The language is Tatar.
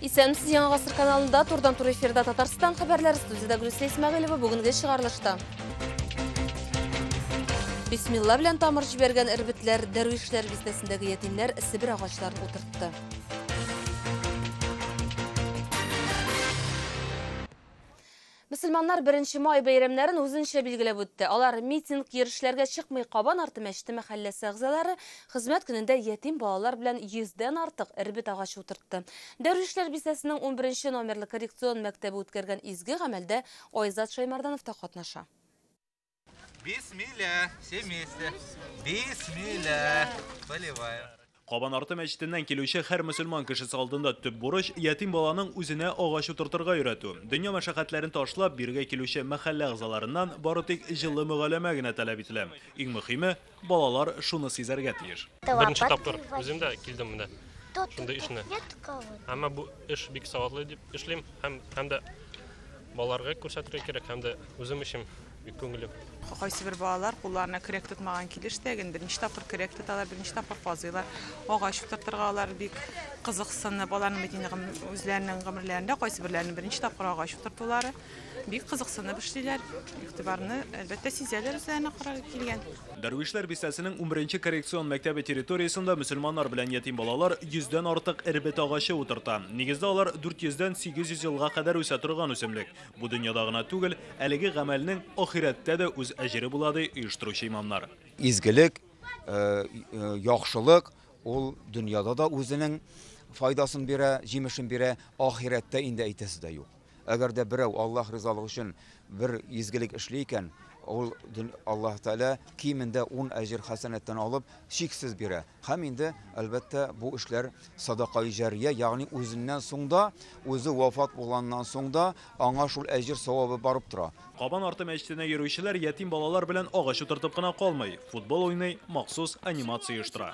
Исәнмесез Яңа ғасыр каналында турдан тур эфирда Татарстан хәбәрләре студияда Гүлсә Исмәгыйлова бүгенге чыгарылышта. Бисмилла белән тамыр җибәргән эрбетләр, дәрвишләр бистәсендәге ятимнәр Себер агачларын утыртты. Мөселманнар беренче май бәйрәмнәрен үзенчә билгеләп үтте. Алар митинг, йөрүшләргә чыкмый, Кабан арты мәчете мәхәлләсе әгъзалары хезмәт көнендә ятим балалар белән йөздән артык эрбет агачы утыртты. Дәрвишләр бистәсенең унберенче номерлы коррекцион мәктәбе үткәргән изге гамәлдә Айзат Шәймарданов та катнаша. Бисмилла, все вместе. Бисмилла. Поливаю. Кабанарты мәчетеннән килүче һәр мөселман кешесе алдында төп бурыч ятим баланың үзенә агач утыртырга өйрәтү. Дөнья мәшәкатьләрен ташлап, биргә килүче мәхәллә әгъзаларыннан бары тик җылы мөгаләмә генә таләп ителә. Иң мөхиме, Балалар шуны сизәргә тиеш. Беренче тапкыр үзем дә килдем менә шундый эшне. Әмма бу эш бик саватлы дип эшлим һәм һәм дә балаларга күрсәтергә кирәк һәм дә үзем өчен бик күңелле. Кайсы бер балалар кулларына көрәк тотмаган килеш тә ген беренче тапкыр көрәк тоталар, беренче тапкыр казыйлар. Агач утыртырга алар бик кызыксынып, аларның бит инде үзләренең гомерләрендә кайсы берләренең беренче тапкыр агач утыртулары. Бик кызыксынып эшлиләр, игътибарны, әлбәттә, сизәләр үзләренә карар килгән. Дәрвишләр бистәсенең унберенче коррекцион мәктәбе территориясендә мөселманнар белән ятим балалар йөздән артык эрбет агачы утырта. Нигездә алар дүрт йөздән сигез йөз елга кадәр үсә торган үсемлек. Бу дөньяда гына түгел, әлеге гамәлнең ахирәттә дә үз әҗере була, ди оештыручы имамнар. Изгелек, яхшылык ул дөньяда да үзенең файдасын бирә, җимешен бирә, ахирәттә инде әйтәсе дә юк. Әгәр дә берәү Аллаһ ризалыгы өчен бер изгелек эшли икән, ул Аллаһ Тәгалә кимендә ун әҗер хәсәнәттән алып, чиксез бирә. Һәм инде, әлбәттә, бу эшләр садакаи җәрия, ягъни үзеннән соң да, үзе вафат булганнан соң да аңа шул әҗер савабы барып тора. Кабан арты мәчетенә йөрүчеләр ятим балалар белән агач утыртып кына калмый, футбол уйный, махсус анимация оештыра.